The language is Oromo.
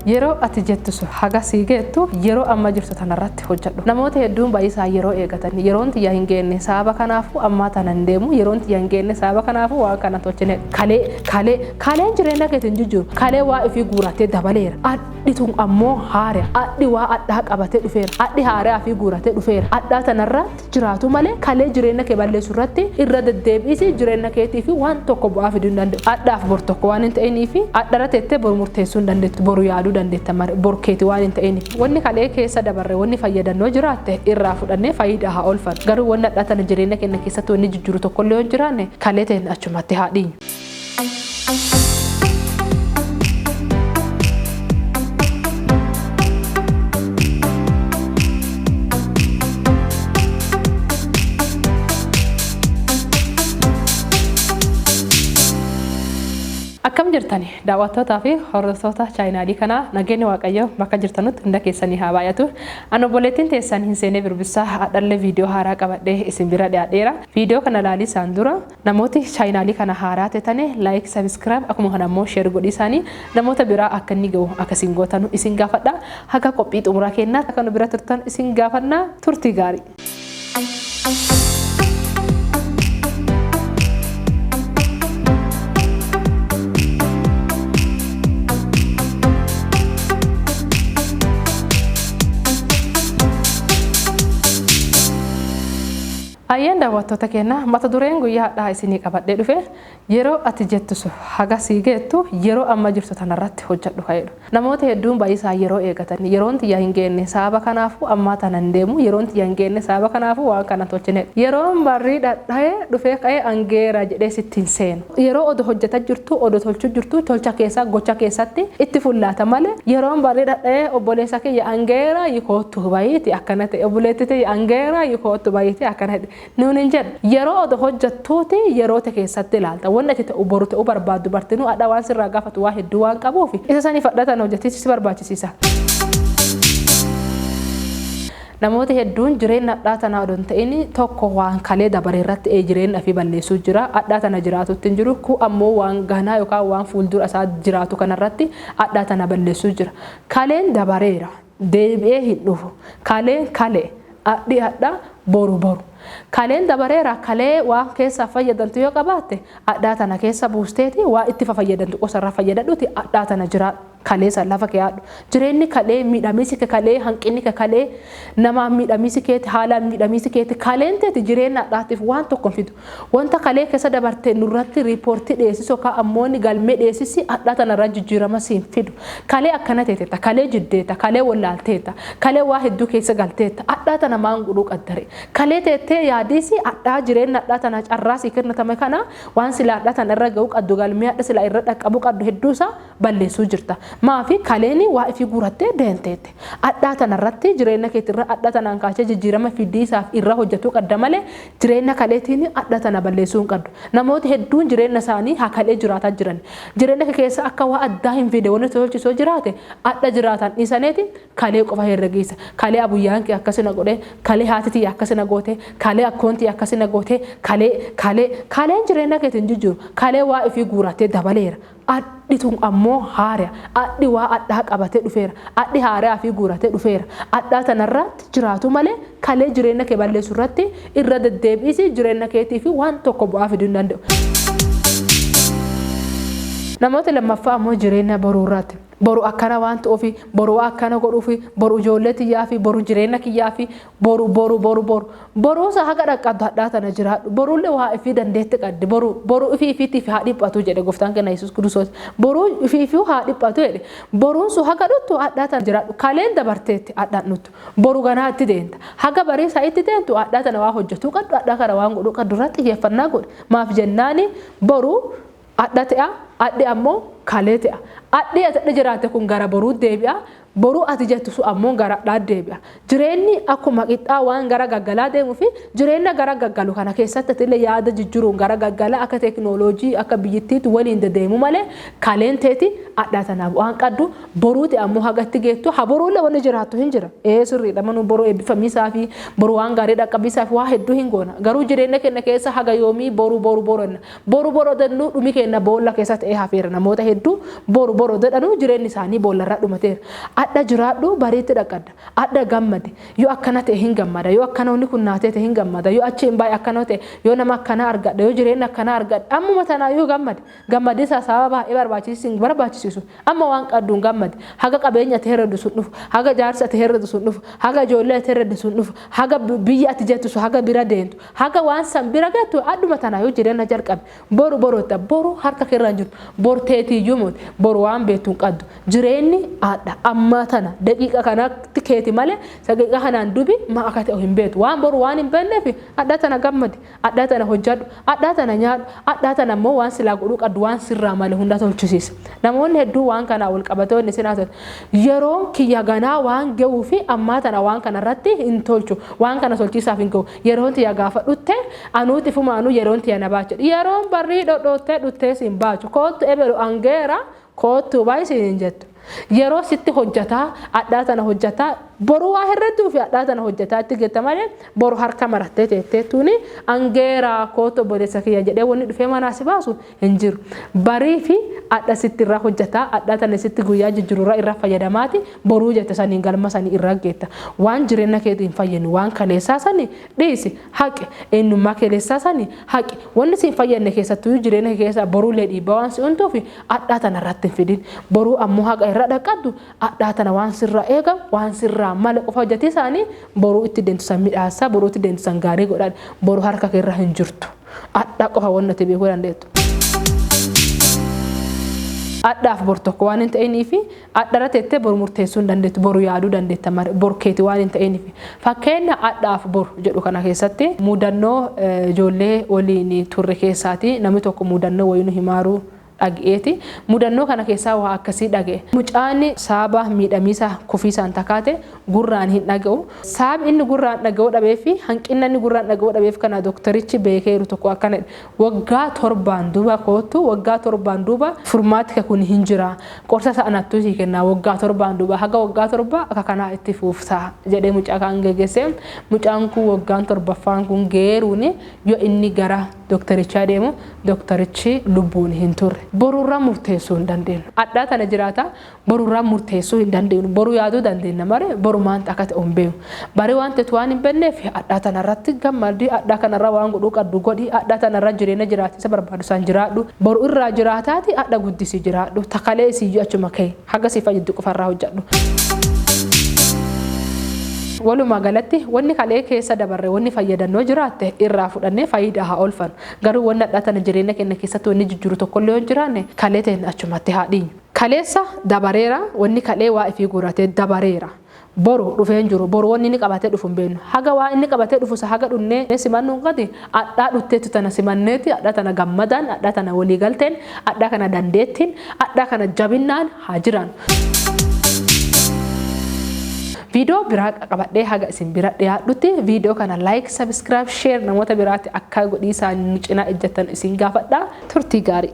Yeroo ati jettu sun haga sii geettu yeroo amma jirtu tanarratti hojjadhu. Namooti hedduun bayiisaan yeroo eegatan yeroon tiyya hin geenne sababa kanaafu ammaa tana hin deemu yeroon tiyya hin geenne sababa kanaafu waan kana hin tolchine kalee kalee kaleen jireenna keeti hin jijjiiru kalee waa ifii guurattee dabaleera adhi tun ammoo haareya adhi waa adhaa qabatee dhufeera adhi haareyaa ifii guuratee dhufeera adhaa tanarra jiraatu malee kalee jireenna kee balleessu irratti irra deddeebi'isi jireenna keetiifi waan tokko bu'aa fiduu hin danda'u. Adhaaf bor tokko waan hin ta'iniifi adharra teettee bor murteessuu hin dandeettu boru yaaduu dandeetta male bor keeti waan hin ta'iniif wanni kalee keessa dabarre wanni fayyadan yoo jiraatte irraa fudhannee fayiidaa haa oolfannu garuu wanni adhaa tana jireenna keenna keessatti wanni jijjiru tokkollee yoo hin jiraanne kalee teenna achumatti haa dhiinyu. Akkam jirtani daawwattootaa fi hordoftoota chaayinaalii kanaa nageenyi waaqayyoo bakka jirtanutti hunda keessanii haa baay'atu. Ani obboleettiin teessan hin seenee birbissaa hadhallee viidiyoo haaraa qabadhee isin bira dhiyaadheera. Viidiyoo kana ilaalii isaan dura Namooti chayinaali kana haaraa tetane like subscribe akuma kana immoo share godhiisaani namoota biraa akka inni gahu akka isin gootanu isin gaafadha haga qophii xumuraa keennaatti akka nu bira turtan isin gaafanna turtii gaarii. Hayyeen daawwattoota keenya mata dureen guyyaa hadhaa isinii qabadhee dhufe yeroo ati jettu sun haga sii geettu yeroo amma jirtu tanarratti hojjadhu ka jedhu. Namooti hedduun bayisaa yeroo eegatan yeroon tiyya hin geenne sababa kanaafu ammaa tana hin deemu yeroon tiyya hin geenne sababa kanaafu waan kana hin tolchine jedhu. Yeroon barrii dhadhaye dhufee ka'ee an geera jedhee sitti hin seenu. Yeroo odo hojjata jirtu odo tolchu jirtu tolcha keessa gocha keessatti itti fullaata male yeroon barri dhadha'ee obboleessa kiyya an ga'eera yi koottu bayiiti akkana ta'e obboleetti tiyya an ga'eera yi koottu bayiiti akkana ta'e nuun hin jedhu yeroo odo hojjattuuti yeroo te keessatti ilaalta wanni ati ta'u boru ta'u barbaaddu bartinuu adha waan sirraa gaafatu waa hedduu waan qabuufi isa saniif adha tana hojjatiisu si barbaachisiisa. Namooti hedduun jireenna adhaa tanaa odoo hin ta'in tokko waan kalee dabare irratti ee jireenna ifii balleessuu jira. Adhaa tana jiraatuutti hin jiru. Kuun ammoo waan ganaa yookaa waan fuuldura isaa jiraatu kana irratti adhaa tana balleessuu jira. Kaleen dabareera. Deebi'ee hin dhufu. Kaleen kale. Adhi adha. Boru boru. Kaleen dabareera kalee waan keessaa fayyadantu yoo qabaatte adhaa tana keessa buusteeti waan itti fafayyadantu qosa irraa fayyadadhuuti adhaa tana jiraadhu. kalee san lafa keyaadhu jireenni kalee miidhamiisi ke kalee hanqinni ke kalee namaan miidhamiisi keeti haalaan miidhamiisi keeti kaleen teeti jireenna hadhaatiif waan tokko hin fidu wanta kalee keessa dabarte nurratti riipoortii dhiyeessis okaa ammooni galmee dhiyeessisi hadhaa tanarra jijjiirama siin fidu kalee akkana teetetta kalee jiddeeta kalee wollaalteeta kalee waa hedduu keessa galteetta hadhaa tana maan gudhuu qaddare kalee teettee yaadiisi hadhaa jireenna hadhaa tana carraa sii kennatame kana waan sila hadhaa tana irra ga'uu qaddu galmee hadha sila irra dhaqqabuu qaddu hedduu isaa balleessuu jirta maafi kaleeni waa ifii guurattee deenteette adhaa tana irratti jireenna keeti irra adha tanaan kaachee jijjiirama fiddii isaaf irra hojjatuu qadda malee jireenna kaleetiini adha tana balleessuu hin qaddu namooti hedduun jireenna isaanii haa kalee jiraataa jirani jireenna kee keessa akka waa addaa hin fiide wani tolchi soo jiraate adha jiraataan dhiisaneeti kalee qofa herregiisa kalee abuyyaan kee akkasi na godhee kalee haati tiyya akkasi na goote kalee akkoon tiyya akkasi na goote kalee kalee kaleen jireenna keeti hin jijjiiru kalee waa ifii guurattee dabaleera Adhi tun ammoo haaraya. Adhi waa adhaa qabatee dhufeera. Adhi haaraya ofii guuratee dhufeera. Adhaa tana irraatti jiraatuu malee kalee jireenna kee balleessu irratti irra deddeebi'isi jireenna keetiifi waan tokko bu'aa fiduu hin danda'u. Namoota lammaffaa ammoo jireenna boruu irraatti. Boru akkana waan ta'uufi, boru waa akkana godhuufi, boru ijoollee tiyyaafi, boru jireenna kiyyaafi Boru boru boru boru boruusa haga dhaqqabdu hadhaa tana jiraadhu boruulle waa ifii dandeetti qaddi boru boru ifii ifiitiif haa dhiphatu jedhe goftaan kenna yesus kiristoos boruu ifii ifiu haa dhiphatu jedhe boruun sun haga dhuttu hadhaa tana jiraadhu kaleen dabarteetti hadhaan dhuttu boru ganaa itti deenta haga barii saa itti deentu hadhaa tana waa hojjetuu qaddu hadhaa kana waan godhuu qaddu irratti xiyyeeffannaa godhi maaf jennaani boru Adha te'a, adhi ammoo kalee te'a. Adhi ati adha jiraatte kun gara boruutti deebi'a, boruu ati jettu sun ammoo gara adhaatti deebi'a. Jireenni akkuma qixxaa waan gara gaggalaa deemuufi jireenna gara gaggalu kana keessatti atillee yaada jijjiruun gara gaggala akka teeknooloojii akka biyyittiitti waliin dedeemuu malee kaleen teeti adhaa tana bu'aan qaddu boruuti ammoo haga itti geettu ha boruullee wanni jiraattu hin jira ee sirriidha manuu boruu eebbifamiisaafi boruu waan gaarii dhaqqabiisaafi waa hedduu hin goona garuu jireenna kenna keessa haga yoomii boruu boruu boranna Boru bor odennu dhumi keenna boolla keessa ta'ee hafeera. Namoota hedduu boru bor odedhanu jireenni isaanii boollarraa dhumateera. Adha jiraadhu bariitti dhaqqadda. Adha gammadi. Yoo akkana ta'e hin gammada. Yoo akkana wanni kun naa teete hin gammada. Yoo achi hin baye akkana ta'e. Yoo nama akkanaa argadha. Yoo jireenna akkanaa argadha. Ammuma tanaayyuu gammadi. Gammadiinsa sababa baay'ee barbaachisis hin barbaachisisu. Amma waan qadduun gammadi. Haga qabeenya ati herreddu sun dhufu. Haga jaarsi ati herreddu sun dhufu. Haga ijoollee ati herredde sun dhufu. Haga biyya ati jettu sun haga bira deentu. Haga waan san bira geettu adhuma tanaayyuu jireenya jalqabi. Boru boroodha. Boru harka keerra hin jirtu. Bor teetiiyyuu moti. Bor waan beettu hin qaddu. Jireenni adha. Ammaa tana. Daqiiqa kanatti keeti malee daqiiqa kanaan dubi maa akka ta'u hin beetu. Waan boru waan hin beenneef adha tana gammadi. Adha tana hojjadhu. Adha tana nyaadhu. Adha tana immoo waan silaa godhuu qaddu waan sirraa male hunda tolchisiisi. Namoonni hedduu waan kanaa wal qabatee wanni isin haasoftu yeroon kiyya ganaa waan ge'uu fi ammaa tana waan kana irratti hin tolchu. Waan kana tolchiisaaf hin ga'u. Yeroon tiya gaafa dhutte anuu xifumaanuu yeroon tiya na baachu jedhe. Yeroon barrii dhodhoottee dhuttee siin baachu koottu eberu an geera koottuu bayi siin hin jettu. Yeroo sitti hojjataa adhaa tana hojjataa boru waa herredduu fi adhaa tana hojjataa itti getta malee boru harka marattee teetteettuuni an geera koottu obboleessa kiyya jedhee wanni dhufee manaa si baasu hin jiru. Bariifi adha sitti irraa hojjataa, adhaa tana sitti guyyaa jijjiru irraa irraa fayyadamaati boruu jette saniin galma sanii irraa geetta. Waan jireenna keeti hin fayyinu waan kaleessaa sani dhiisi, haqi. Eennummaa keleessaa sani haqi. Wanni si hin fayyanne keessattuyu jireenya kee keessaa boruulee dhiibbaa waan si untuufi adhaa tana irratti hin fidin. Boruu ammoo haqa irraa dhaqqaddu adhaa tana waan sirraa eegamu waan sirraa male qofa hojjatii saanii boruu itti deemtu san midhaassa, boruu itti deemtu san gaarii godhadhu. Boru harka kee irra hin jirtu. Adha qofa wanni ati beekuu dandeettu. Adhaaf bor tokko waan hin ta'iniif adhara teettee bor murteessuu hin dandeettu boru yaaduu dandeetta malee bor keeti waan hin ta'iniif. Fakkeenya adhaaf bor jedhu kana keessatti mudannoo ijoollee waliin turre keessaati namni tokko mudannoo wayii nu himaaruu dhage'eeti. Mudannoo kana keessaa waa akkasii dhage'e. Mucaan saaba miidhamiisa kufiisaan takaate gurraan hin dhage'u. Saab inni gurraan dhage'uu dhabee fi hanqinna inni gurraan dhage'uu dhabeef kana doktarichi beekeeru tokko akkana jedhe, waggaa torbaan duuba koottu, waggaa torbaan duuba furmaati ka kun hin jira. Qorsa isa anattuu sii kenna waggaa torbaan duuba. Haga waggaa torbaa akka kanaa itti fuufta jedhee mucaa kaan gegesse. Mucaan kun waggaan torbaffaan kun geeruun yoo inni gara. Doktarichaa deemu, Doktarichi lubbuun hin turre. Boru irraa murteessuu hin dandeennu. Adhaa tana jiraata, boru irraa murteessuu hin dandeennu. Boru yaaduu dandeenna malee boru maanta akka ta'u hin beeknu. Bari waan teetu waan hin benneef adhaa tana irratti gammadi, adhaa kana irraa waan godhuu qaddu godhi, adhaa tana irraa jireenya jiraatiisa barbaadu san jiraadhu. Boru irraa jiraataati adha guddisi jiraadhu. Ta kaleesiyyuu achuma kay. Haga si fayyaddu qofa irraa hojjadhu. Walumaa galatti wanni kalee keessa dabarre wanni fayyadannoo jiraatte irraa fudhannee fayidaa haa oolfan. Garuu wanni hadhaa tana jireenya keenya keessatti wanni jijjiiru tokkollee yoo hin jiraanne kalee teenya achumatti haa dhiinyu. Kaleessa dabareera wanni kalee waa ifii guuratee dabareera. Boru dhufee hin jiru. Boru wanni inni qabatee dhufu hin beennu. Haga waan inni qabatee dhufu san haga dhunnee simannuun qati, adhaa dhutteetu tana simanneeti, adhaa tana gammadaan, adhaa tana wolii galteen, adhaa kana dandeettiin, adhaa kana jabinnaan haa jiraannu. Viidiyoo biraa qabadhee haga isin bira dhiyaadhutti viidiyoo kana like, subscribe, share namoota biraatti akka godhiisaan nu cinaa ejjattan isin gaafadha. Turtii gaarii!